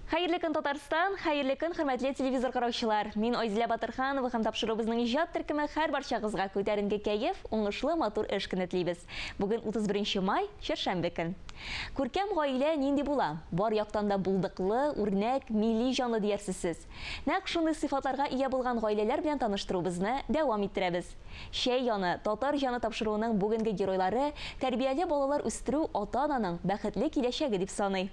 Хәерле көн, Татарстан! Хәерле көн, хөрмәтле телевизор караучылар! Мин Айзилә Батырханова һәм тапшыруыбызның иҗат төркеме хәр барчагызга күтәренке кәеф, уңышлы, матур эш көне телибез. Бүген 31 май, чәршәмбе көн. Күркәм гаилә нинди була? Бар яктан да булдыклы, үрнәк, милли җанлы диярсез сез. Нәкъ шундый сыйфатларга ия булган гаиләләр белән таныштыруыбызны дәвам иттерәбез. Чәй яны, татар җаны тапшыруының бүгенге геройлары тәрбияле балалар үстерү ата-ананың бәхетле киләчәге дип саный.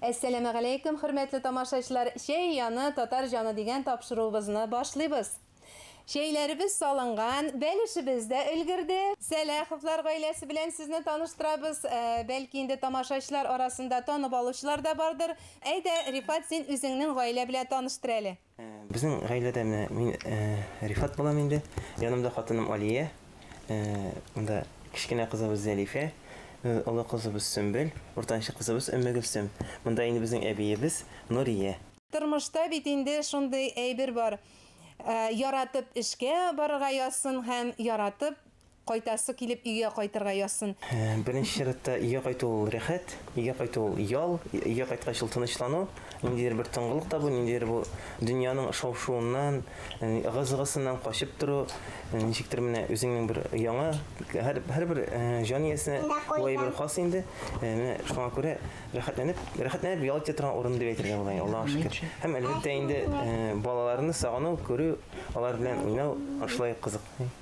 Әссәләмәгаләйкем, хөрмәтле тамашачылар! Чәй яны, татар җаны дигән тапшыруыбызны башлыйбыз. Чәйләребез салынган, бәлешебез дә өлгерде. Сәлаховлар гаиләсе белән сезне таныштырабыз. Бәлки инде тамашачылар арасында танып алучылар да бардыр. Әйдә, Рифат, син үзеңнең гаилә белән таныштыр әле. Безнең гаиләдә менә мин Рифат булам инде. Янымда хатыным Алия. Монда кечкенә кызыбыз Зәлифә, олы кызыбыз Сөмбел, уртанчы кызыбыз Өммегөлсем. Монда инде безнең әбиебез Нурия. Тормышта бит инде шундый әйбер бар, яратып эшкә барырга язсын һәм яратып Кайтасы килеп өйгә кайтырга язсын. Беренче чиратта өйгә кайту ул рәхәт, өйгә кайту ул ял, өйгә кайткач ул тынычлану, ниндидер бер тынгылык табу, ниндидер бу дөньяның шау-шуыннан, ыгы-зыгысыннан качып тору, ничектер менә үзеңнең бер яңа, һәр, һәрбер җан иясенә бу әйбер хас инде, менә шуңа күрә рәхәтләнеп, рәхәтләнеп ял итә торган урын дип әйтергә була, Аллага шөкер. Һәм, әлбәттә инде, балаларны сагыну, күрү, алар белән уйнау шулай ук кызык.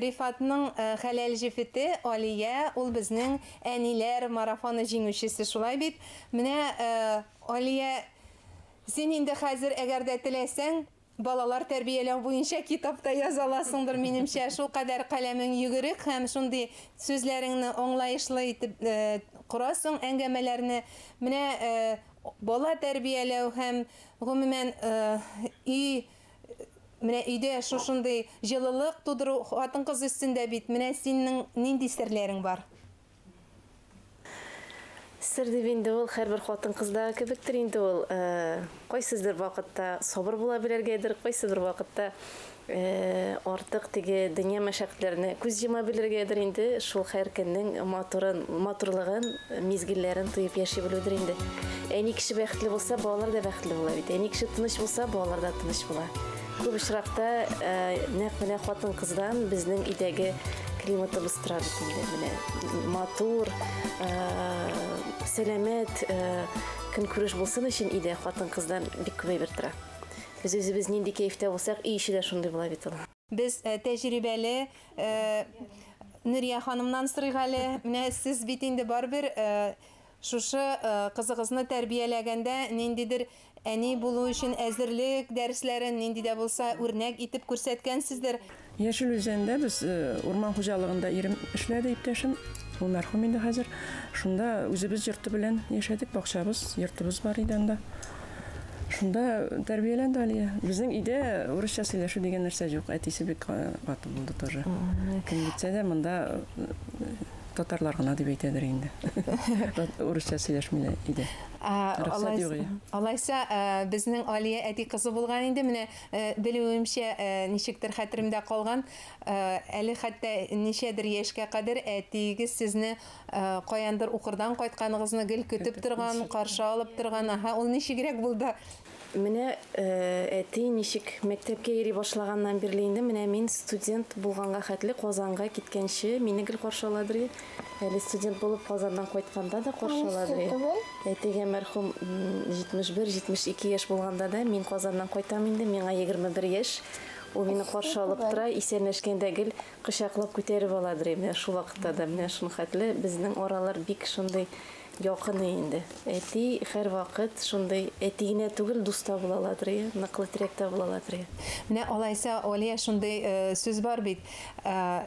Рифатның хәләл җефете Алия, ул безнең Әниләр марафоны җиңүчесе, шулай бит? Менә, Алия, син инде хәзер, әгәр дә теләсәң, балалар тәрбияләү буенча китап та яза аласыңдыр, минемчә, шулкадәр каләмең йөгерек һәм шундый сүзләреңне аңлаешлы итеп корасың әңгәмәләрне. Менә бала тәрбияләү һәм, гомумән, өй Менә өйдә шушындый җылылык тудыру хатын-кыз өстендә бит. Менә синең нинди серләрең бар? Сер дип инде ул һәрбер хатын-кыздагы кебектер инде ул. Кайсыдыр вакытта сабыр була белергәдер, кайсыдыр вакытта артык теге дөнья мәшәкатьләренә күз йома белергәдер инде. Шул һәркемнең матурын, матурлыгын Мизгелләрен тоеп яши белүдер инде. Әни кеше бәхетле булса, балалар да бәхетле була бит. Әни кеше тыныч булса, балалар да тыныч була. Күп очракта э, нәкъ менә хатын-кыздан безнең өйдәге климатыбыз тора бит инде. Менә матур, э, сәламәт э, көнкүреш булсын өчен өйдә хатын-кыздан бик күп әйбер тора. Без үзебез нинди кәефтә булсак, өй эче дә шундый була бит ул. Без тәҗрибәле Нурия ханымнан сорыйк әле. Менә сез бит инде барыбер шушы кызыгызны тәрбияләгәндә ниндидер әни булу өчен әзерлек дәресләрен нинди дә булса үрнәк итеп күрсәткәнсездер. Яшел Үзәндә без урман хуҗалыгында ирем эшләде, иптәшем. Ул мәрхүм инде хәзер. Шунда үзебез йорты белән яшәдек, бакчабыз, йортыбыз бар иде анда. Шунда тәрбияләнде Алия. Безнең өйдә урысча сөйләшү дигән нәрсә юк. Әтисе бик каты булды тоже. Кем китсә дә монда татарлар гына дип әйтәдер инде. Урысча сөйләшмиләр иде. Алайса, безнең Алия әти кызы булган инде. Менә белүемчә, ничектер хәтеремдә калган, әле хәтта ничәдер яшькә кадәр әтиегез сезне Каяндыр укырдан кайтканыгызны гел көтеп торган, каршы алып торган. Аһа, ул ничегрәк булды? Менә әти ничек мәктәпкә йөри башлаганнан бирле инде менә мин студент булганга хәтле Казанга киткәнче мине гел каршы аладыр. Әле студент булып Казаннан кайтканда да каршы аладыр. Әтигә мәрхүм 71-72 яшь булганда да мин Казаннан кайтам инде, миңа 21 яшь. Ул мине каршы алып тора, исәнләшкәндә гел кочаклап күтәреп аладыр иде менә шул вакытта да менә шуның хәтле безнең аралар бик шундый якын инде әти һәрвакыт шундый әти генә түгел дус та була аладыр иә ныклы терәк тә була аладыр иә Менә алайса, Алия, шундый э, сүз бар бит. Э,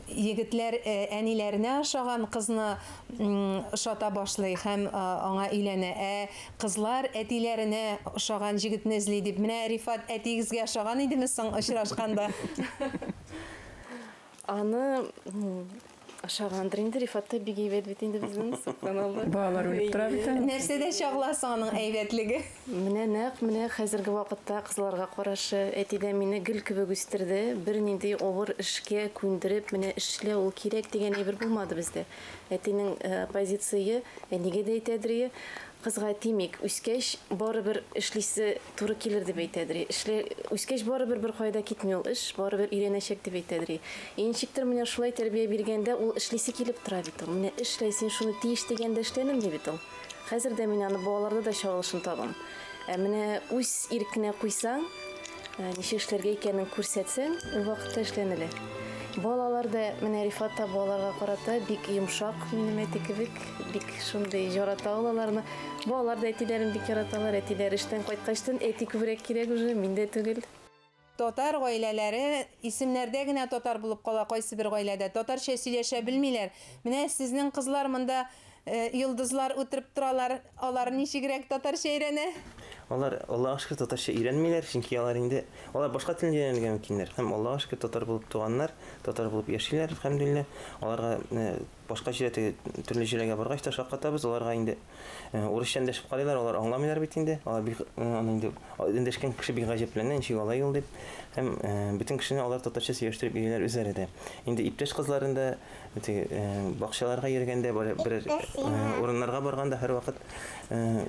егетләр э, әниләренә ошаган кызны м, ошата башлый һәм э, аңа өйләнә. Ә Кызлар әтиләренә ошаган җегетне эзли дип, менә Рифат әтиегезгә ошаган идеме соң очрашканда? Аны ошагандыр инде, Рифат та бик әйбәт бит инде безнең, сокланалар. Балалар үлеп тора бит әле. Нәрсәдә чагыла соң аның әйбәтлеге? Менә нәкъ менә хәзерге вакытта кызларга карашы, әти дә мине гөл кебек үстерде, бернинди авыр эшкә күндереп, менә эшлә, ул кирәк дигән әйбер булмады бездә. Әтинең позицие, әнигә дә әйтәдерие, кызга тимик, үскәч барыбер эшлисе туры килер дип әйтәдерие. Эшле, үскәч барыбер беркайда китми ул эш, барыбер өйрәнәчәк дип әйтәдерие. И ничектер менә шулай тәрбия биргәндә ул эшлисе килеп тора бит ул. Менә эшлә, син шуны тиеш дигәндә эшләнелми бит ул. Хәзер дә мин аны балаларда да чагылышын табам. Ә менә үз иркенә куйсаң, ә, ничек эшләргә икәнен күрсәтсәң, ул вакытта эшләнелә. Балалар да, менә Рифат та балаларга карата бик йомшак, минем әти кебек, бик шундый ярата ул аларны. Балалар да әтиләрен бик яраталар, әтиләре эштән кайткачтын әти күбрәк кирәк уже, мин дә түгел. Татар гаиләләре исемнәрдә генә татар булып кала, кайсыбер гаиләдә татарча сөйләшә белмиләр. Менә сезнең кызлар монда йолдызлар утырып торалар, алар ничегрәк татарча өйрәнә? Алар, Аллага шөкер, татарча өйрәнмиләр, чөнки алар инде, алар башка телне дә өйрәнергә мөмкиннәр һәм, Аллага шөкер, татар булып туганнар, татар булып яшиләр, әлхәмдүлилләһ, аларга Башка җирә теге төрле җирәгә баргач та шаккатабыз, аларга инде урысча эндәшеп карыйлар, алар аңламыйлар бит инде. Алар бик аны инде эндәшкән кеше бик гаҗәпләнә, ничек алай ул дип. Һәм бөтен кешене алар татарча сөйләштереп йөриләр үзләре дә. Инде иптәш кызларын да теге бакчаларга йөргәндә, берәр урыннарга барганда һәрвакыт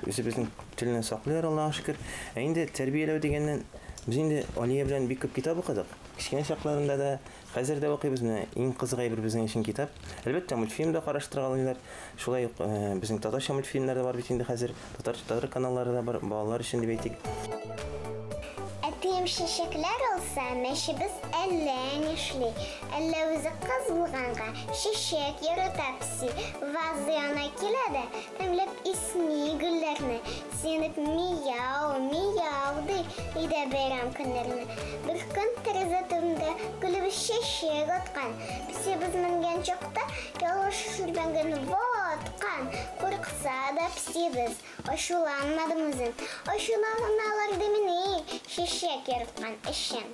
үзебезнең телне саклыйлар, Аллага шөкер. Ә инде тәрбияләү дигәннән, без инде Алия белән бик күп китап укыдык. Кечкенә чакларында да, Хәзер дә укыйбыз, менә иң кызык әйбер безнең өчен китап. Әлбәттә, мультфильм да караштыргалыйлар. Шулай ук э, безнең татарча мультфильмнар да бар бит инде хәзер. Татар татар каналлары да бар, балалар өчен дип әйтик. Әтием чәчәкләр алса, мәчебез әллә нишли. Әллә үзе кыз булганга, чәчәк ярата песи. Ваза янына килә дә, Тәмләп исми гөлләрне, сиенеп мияу, мияу ди өйдә бәйрәм көннәрне. Бер көн тәрәзә төбендә гөлебез чәчәк аткан. Песебез менгән чакта ялгыш шүрләнгән ваткан. Курыкса да песебез, ачуланмадым үзен. Ачуланалар димени, чәчәк яраткан өчен.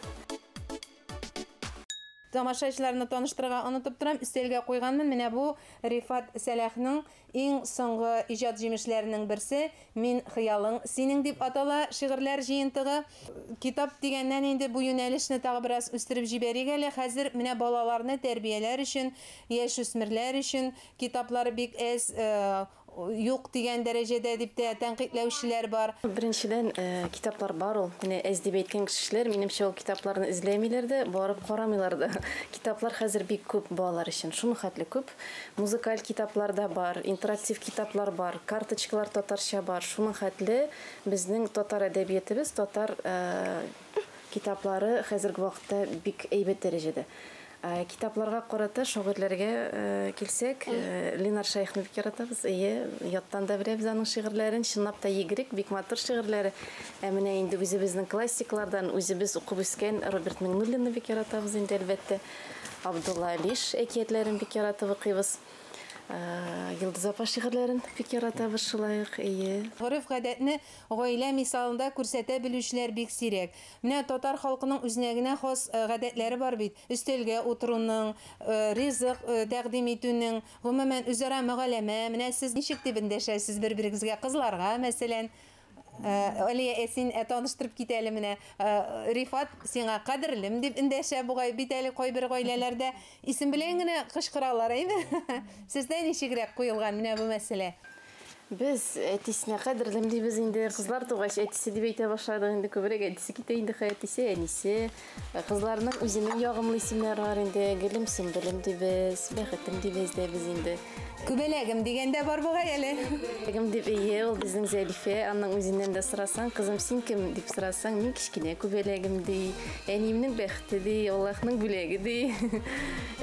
Тамашачыларны таныштырырга онытып торам, өстәлгә куйганмын, менә бу Рифат Сәлахның Иң соңгы иҗат җимешләренең берсе Мин хыялың синең дип атала шигырьләр җыентыгы. Китап дигәннән инде бу юнәлешне тагы бераз үстереп җибәрик әле. Хәзер менә балаларны тәрбияләр өчен, яшүсмерләр өчен китаплар бик әз, юк дигән дәрәҗәдә дип тә тәнкыйтьләүчеләр бар. Беренчедән, китаплар бар ул. Менә әз дип әйткән кешеләр, минемчә, ул китапларны эзләмиләр дә, барып карамыйлар да. Китаплар хәзер бик күп балалар өчен, шулхәтле күп. китап, музыкаль китаплар да бар, интерактив китаплар бар, карточкалар татарча бар. Шуның хәтле безнең татар әдәбиятебез, татар китаплары хәзерге вакытта бик әйбәт дәрәҗәдә. Китапларга карата шагыйрьләргә килсәк, Ленар Шәехне бик яратабыз. Әйе, яттан да беләбез аның шигырьләрен, чынлап та егрек, бик матур шигырьләре. Ә менә инде үзебезнең классиклардан, үзебез укып үскән Роберт Миңнуллинны бик яратабыз инде, әлбәттә. Абдулла Алиш әкиятләрен бик яратып укыйбыз. Йолдыз апа шигырьләрен бик яратабыз шулай ук, әйе. Гореф-гадәтне гаилә мисалында күрсәтә белүчеләр бик сирәк. Менә татар халкының үзенә генә хас гадәтләре бар бит, өстәлгә утыруның, ризык тәкъдим итүнең, гомумән, үзара мөгаләмә, менә сез ничек дип эндәшәсез бер-берегезгә, кызларга, мәсәлән. Алия, ә син ә таныштырып кит әле менә. Рифат сиңа кадерлем дип эндәшә бугай, бит әле кайбер гаиләләрдә исем белән генә кычкыралар, әйме? Сездә ничегрәк куелган менә бу мәсьәлә? Без әтисенә кадерлем дибез инде. Кызлар тугач, әтисе дип әйтә башладык инде. Күбрәк әтисе китә инде, әтисе, әнисе. Кызларның үзенең ягымлы исемнәре бар инде. Гөлем, Сөмбелем дибез, Бәхетем дибез дә без инде. Күбәләгем дигән дә бар бугай әле. Күбәләгем дип ие, ул безнең Зәлифә. Аның үзеннән дә сорасаң, кызым, син кем дип сорасаң, мин кечкенә күбәләгем ди. Әниемнең бәхете ди, Аллаһның бүләге ди.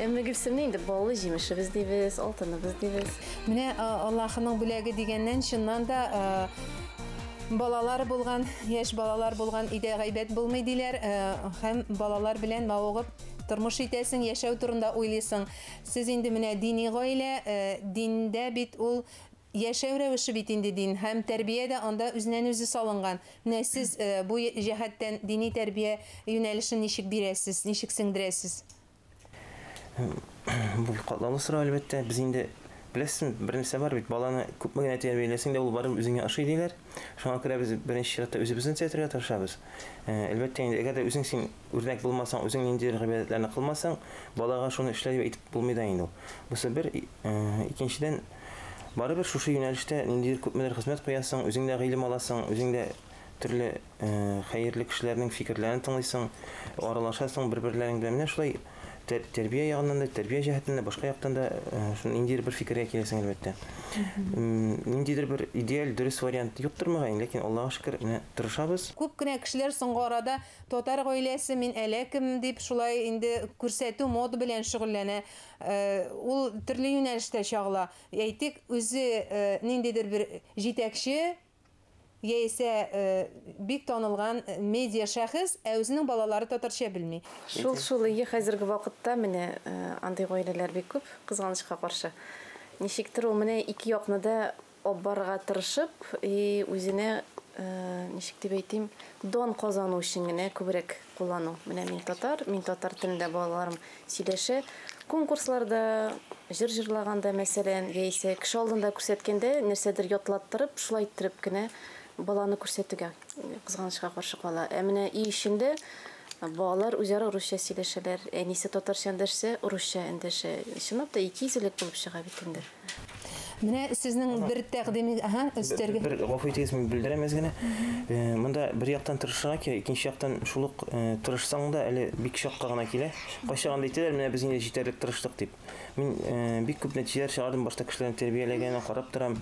Әмма Гөлсемне инде баллы җимешебез дибез, алтыныбыз дибез. Менә Аллаһының бүләге дигәннән, чыннан да, Балалар булган, яшь балалар булган өйдә гайбәт булмый диләр. Э, һәм балалар белән мавыгып тормыш итәсең, яшәү турында уйлыйсың. Сез инде менә дини гаилә, э, диндә бит ул яшәү рәвеше бит инде дин һәм тәрбия дә анда үзеннән үзе салынган. Менә сез э, бу җәһәттән дини тәрбия юнәлешен ничек бирәсез, ничек сеңдерәсез? Бу бик катлаулы сорау, әлбәттә. Без инде беләсезме, бер нәрсә бар бит, баланы күпме генә тәрбияләсәң дә, ул барыбер үзеңә ошый диләр. Шуңа күрә без беренче чиратта үзебезне төзәтергә тырышабыз. Э, әлбәттә инде, әгәр дә үзең син үрнәк булмасаң, үзең ниндидер гыйбадәтләрне кылмасаң, балага шуны эшлә дип әйтеп булмый да инде ул. Бусы бер, э, икенчедән, барыбер шушы юнәлештә ниндидер күпмедер хезмәт куясың, үзең дә гыйлем аласың, үзең дә төрле хәерле кешеләрнең фикерләрен тыңлыйсың, аралашасың бер-берләрең белән. Менә шулай тәрбия ягыннан да, тәрбия җәһәтеннән дә, башка яктан да шуны ниндидер бер фикергә киләсең, әлбәттә. Ниндидер бер идеаль, дөрес вариант юктыр мөгаен, ләкин, Аллага шөкер, менә тырышабыз. Күп кенә кешеләр соңгы арада татар гаиләсе, мин әллә кем дип шулай инде күрсәтү, мода белән шөгыльләнә. Ул төрле юнәлештә чагыла. Әйтик, үзе ниндидер бер җитәкче, Яисә бик танылган медиа шәхес, ә үзенең балалары татарча белми. Шул шул, ие, хәзерге вакытта менә андый гаиләләр бик күп, кызганычка каршы. Ничектер ул менә ике якны да оббарырга тырышып и үзенә, ничек дип әйтим, дан казану өчен генә күбрәк куллану. Менә мин татар, мин татар телендә балаларым сөйләшә. Конкурсларда, җыр җырлаганда, мәсәлән, яисә кеше алдында күрсәткәндә нәрсәдер ятлаттырып, шулай иттереп кенә баланы күрсәтүгә, кызганычка каршы, кала. Ә менә өй эчендә балалар үзара русча сөйләшәләр, әнисе татарча эндәшсә, русча эндәшә. Чынлап та, икейөзлелек булып чыга бит инде. Менә сезнең бер тәкъдими, аһа, өстәргә. Бер гафу итегез, мин белдерәм әз генә. Э, монда бер яктан тырышырга кирәк, икенче яктан шул ук э, тырышсаң да әле бик чакка гына килә. Кайчагында әйтәләр, менә без инде җитәрлек тырыштык дип. Мин э, бик күп нәтиҗәләр чыгардым, башта кешеләрне тәрбияләгәнен карап торам.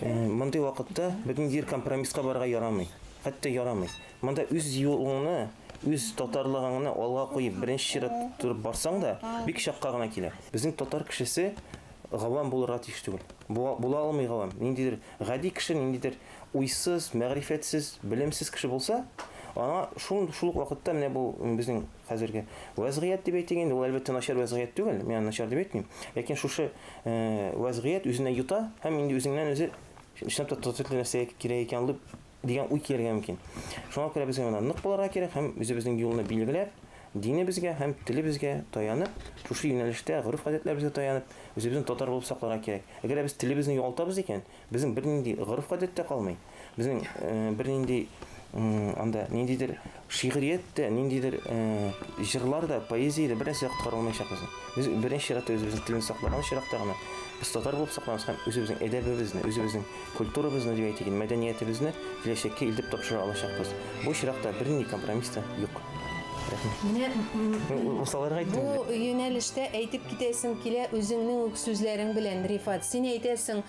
Мондый вакытта безнең җир компромисска барырга ярамый. Хәтта ярамый. Монда үз юлыңны үз татарлыгыңны алга куеп беренче чират торып барсаң да бик чакка гына килә. Безнең татар кешесе Гавам булырга тиеш түгел. Бу, була алмый гавам. Ниндидер гади кеше, ниндидер уйсыз, мәгърифәтсез, белемсез кеше булса, аңа шул, шул ук вакытта менә бу безнең хәзерге вәзгыять дип әйтик инде, ул әлбәттә начар вәзгыять түгел, мин аны начар дип әйтмим. Ләкин шушы э, вәзгыять үзенә йота һәм инде үзеңнән үзе чынлап та татыклы нәрсә кирәк икән дип Дигән уй килергә мөмкин. Шуңа күрә безгә монда нык булырга кирәк һәм үзебезнең юлны билгеләп, динебезгә һәм телебезгә таянып, шушы юнәлештә, гореф-гадәтләребезгә таянып, үзебезне татар булып сакларга кирәк. Әгәр дә без телебезне югалтабыз икән, безнең бернинди гореф-гадәт тә калмый, безнең бернинди анда ниндидер Шигърият тә, ниндидер җырлар да, поэзия дә бернәрсә дә коткара алмаячак безне. Без беренче чиратта үзебезнең телне саклаган очракта гына без татар булып сакланабыз һәм үзебезнең әдәбебезне, үзебезнең культурабызны, дип әйтик, мәдәниятебезне киләчәккә илтеп тапшыра алачакбыз. Бу очракта бернинди компромисс та юк. Менә усаларга әйттем. Бу юнәлештә әйтеп китәсем килә үзеңнең үк сүзләрең белән, Рифат. Син әйтәсең,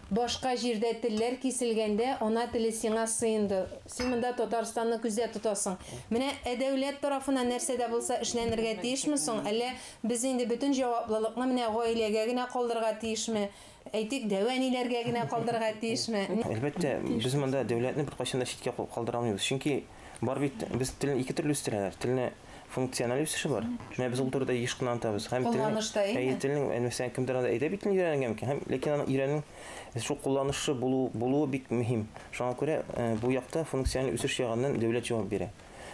Башка җирдә телләр киселгәндә, ана теле сиңа сыенды. Син монда Татарстанны күздә тотасың. Менә ә дәүләт тарафыннан нәрсә дә булса эшләнергә тиешме соң? Әллә без инде бөтен җаваплылыкны менә гаиләгә генә калдырырга тиешме? Әйтик, дәү-әниләргә генә калдырырга тиешме? Әлбәттә, без монда дәүләтне беркайчан да читкә калдыра алмыйбыз. Чөнки Бар бит, без телне ике төрле үстерәләр. Телне функциональ үсеше бар. Менә без ул турыда еш кына антабыз. Һәм кулланышта инде. Әйе, телнең мәсәлән кемдер анда әйдәп итен өйрәнгән микән? Һәм ләкин аны өйрәнү шул кулланышы булу булу бик мөһим. Шуңа күрә э, бу якта функциональ үсеш ягыннан дәүләт җавап бирә.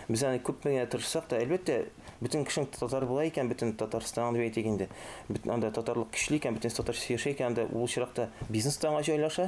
Без аны күп меңә тырышсак та, әлбәттә, бөтен кешең татар була икән, бөтен Татарстан дип әйтик инде. Бөтен анда татарлык көчле икән, бөтен татарча сөйләшә икән, анда ул чиракта бизнес та аңа җайлаша.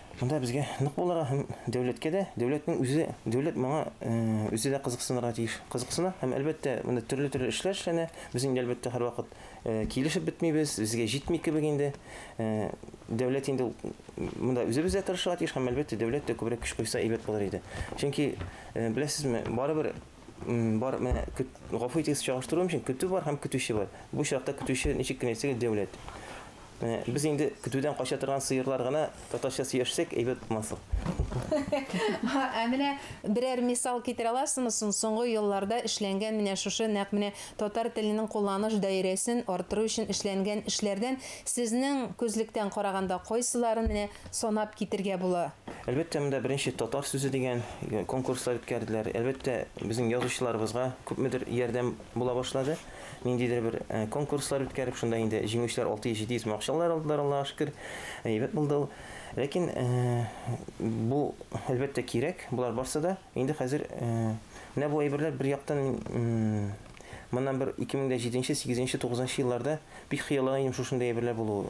Монда безгә нык булырга һәм дәүләткә дә, дәүләтнең үзе, дәүләт моңа э, үзе дә кызыксынырга тиеш. Кызыксына һәм әлбәттә монда төрле-төрле эшләр эшләнә. Без инде әлбәттә һәрвакыт э, килешеп бетмибез, безгә җитми кебек инде. Э, Дәүләт инде монда үзебез дә тырышырга тиеш һәм әлбәттә дәүләт тә күбрәк көч куйса әйбәт булыр иде. Чөнки э, беләсезме, барыбер Бар, менә гафу итегез, чагыштыру өчен көтү бар һәм көтүче бар. Бу чакта көтүче ничек кенә әйтсәгез дәүләт. Менә без инде көтүдән кача торган сыерлар гына татарча сөйләшсәк әйбәт булмаслык. Ә менә берәр мисал китерә аласызмы соң соңгы елларда эшләнгән менә шушы нәкъ менә татар теленең кулланыш даирәсен арттыру өчен эшләнгән эшләрдән сезнең күзлектән караганда кайсыларын менә Санап китергә була. Әлбәттә, монда беренче татар сүзе дигән конкурслар үткәрделәр. Әлбәттә, безнең язучыларыбызга күпмедер ярдәм була башлады. Ниндидер бер конкурслар үткәреп, шунда инде җиңүчеләр 600-700 мең акчалар алдылар, Аллага шөкер. Әйбәт булды ул. Ләкин бу, әлбәттә, кирәк, болар барсы да. Инде хәзер менә бу әйберләр бер яктан моннан бер 2007 нче, сигезенче, тугызынчы елларда бик хыяллана идем шушындый әйберләр булуы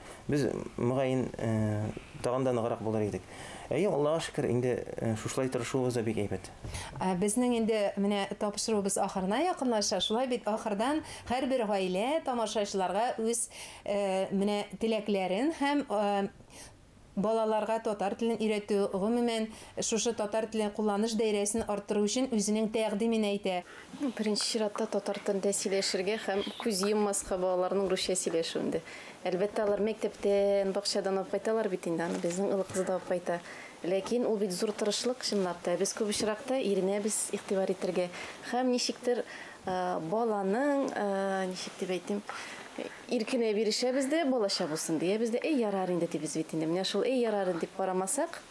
Без, мөгаен, тагын да ныграк булыр идек. Әйе, Аллага шөкер, инде шушылай тырышуыбыз да бик әйбәт. Безнең инде менә тапшыруыбыз ахырына якынлаша. Шулай бит, ахырдан һәрбер гаилә тамашачыларга үз менә теләкләрен һәм балаларга татар телен өйрәтү, гомумән, шушы татар теле кулланыш даирәсен арттыру өчен үзенең тәкъдимен әйтә. Беренче чиратта татар телендә сөйләшергә һәм күз йоммаска балаларның русча сөйләшүендә. Әлбәттә, алар мәктәптән, бакчадан алып кайталар бит инде аны, безнең олы кыз да алып кайта. Ләкин ул бит зур тырышлык, чынлап та. Без күп очракта иренәбез игътибар итәргә һәм ничектер баланың, ничек дип әйтим, иркенә бирешәбез дә, балача булсын диябез дә, әй, ярар инде дибез бит инде. Менә шул әй, ярар дип карамасак,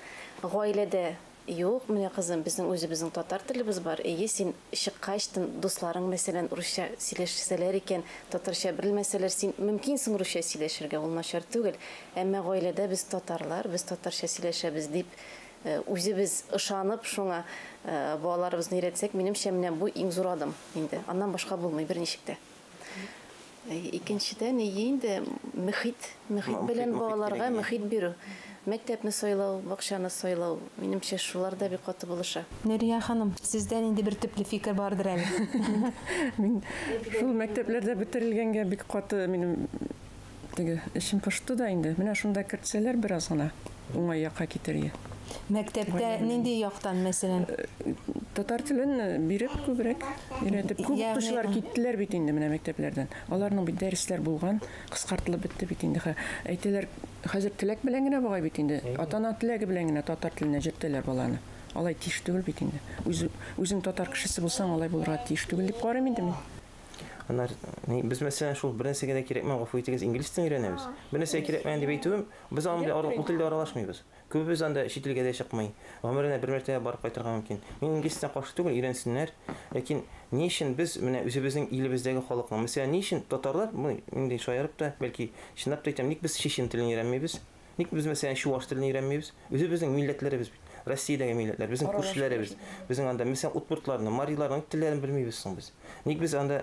гаиләдә Юк, менә, кызым, безнең үзебезнең татар телебез бар. Эйе, син чыккач, тын дусларың, мәсәлән, урысча сөйләшсәләр икән, татарча берелмәсәләр, син мөмкинсең русча сөйләшергә, ул начар түгел. Әмма гаиләдә без татарлар, без татарча сөйләшәбез, дип үзебез ышанып, шуңа балаларыбызны өйрәтсәк, минемчә, менә бу иң зур адым инде. Аннан башка булмый берничек тә. Икенчедән, и инде мөхит, мөхит белән балаларга мөхит бирү. Мәктәпне сайлау, бакчаны сайлау, минемчә, шулар да бик каты булыша. Нурия ханым, сездә нинди бер төпле фикер бардыр әле? Мин шул мәктәпләрдә бетерелгәнгә бик каты минем Теге эчем пошты да инде. Менә шунда кертсәләр бераз гына уңай якка китер иде. Мәктәптә нинди яктан, мәсәлән? Татар телен биреп күбрәк өйрәтеп. Күп Ягъни- укучылар киттеләр бит инде менә мәктәпләрдән. Аларның бит дәресләр булган, кыскартылып бетте бит инде. Хә- Әйтәләр, хәзер теләк белән генә бугай бит инде. Ата-ана теләге белән генә татар теленә җөртәләр баланы. Алай тиеш түгел бит инде. Үзе, үзең татар кешесе булсаң, алай булырга тиеш түгел дип карыйм инде мин. Анар, ни, без мәсәлән шул бернәрсәгә дә кирәкмәгән, гафу итегез, инглиз телен өйрәнәбез. Бернәрсәгә кирәкмәгән дип әйтүем, без аның белән ара- ул телдә аралашмыйбыз. Күбебез анда чит илгә дә чыкмый. Гомеренә бер мәртәбә барып кайтырга мөмкин. Мин инглиз теленә каршы түгел, өйрәнсеннәр. Ләкин ни өчен без менә үзебезнең илебездәге халыкның, мәсәлән, ни өчен татарлар, бу инде шаярып та, бәлки чынлап та әйтәм, ник без чечен телен өйрәнмибез? Ник без мәсәлән чуваш телен өйрәнмибез? Үзебезнең милләтләребез бит. Россиядәге милләтләр, безнең күршеләребез. Безнең анда мәсәлән удмуртларның, мариларның ник телләрен белмибез соң без? Ник без анда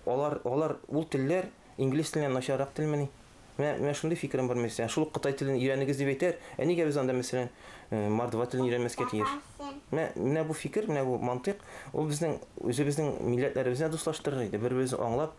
алар алар ул телләр инглиз теленнән начаррак телмени? Менә менә шундый фикерем бар мәсәлән. Шул ук кытай телен өйрәнегез дип әйтәр, ә нигә без анда мәсәлән мордва телен өйрәнмәскә тиеш? Менә менә бу фикер, менә бу мантыйк, ул безнең үзебезнең милләтләребезне дуслаштырыр иде, бер-беребезне аңлап,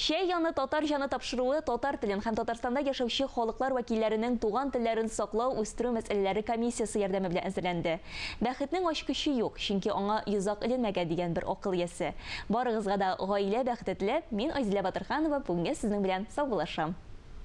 Чәй яны татар җаны тапшыруы татар телен һәм Татарстанда яшәүче халыклар вәкилләренең туган телләрен саклау, үстерү мәсьәләләре комиссиясе ярдәме белән әзерләнде. Бәхетнең ачкычы юк, чөнки аңа йозак эленмәгән, дигән бер акыл иясе. Барыгызга да гаилә бәхете теләп, мин Айзилә Батырханова бүгенгә сезнең белән саубуллашам.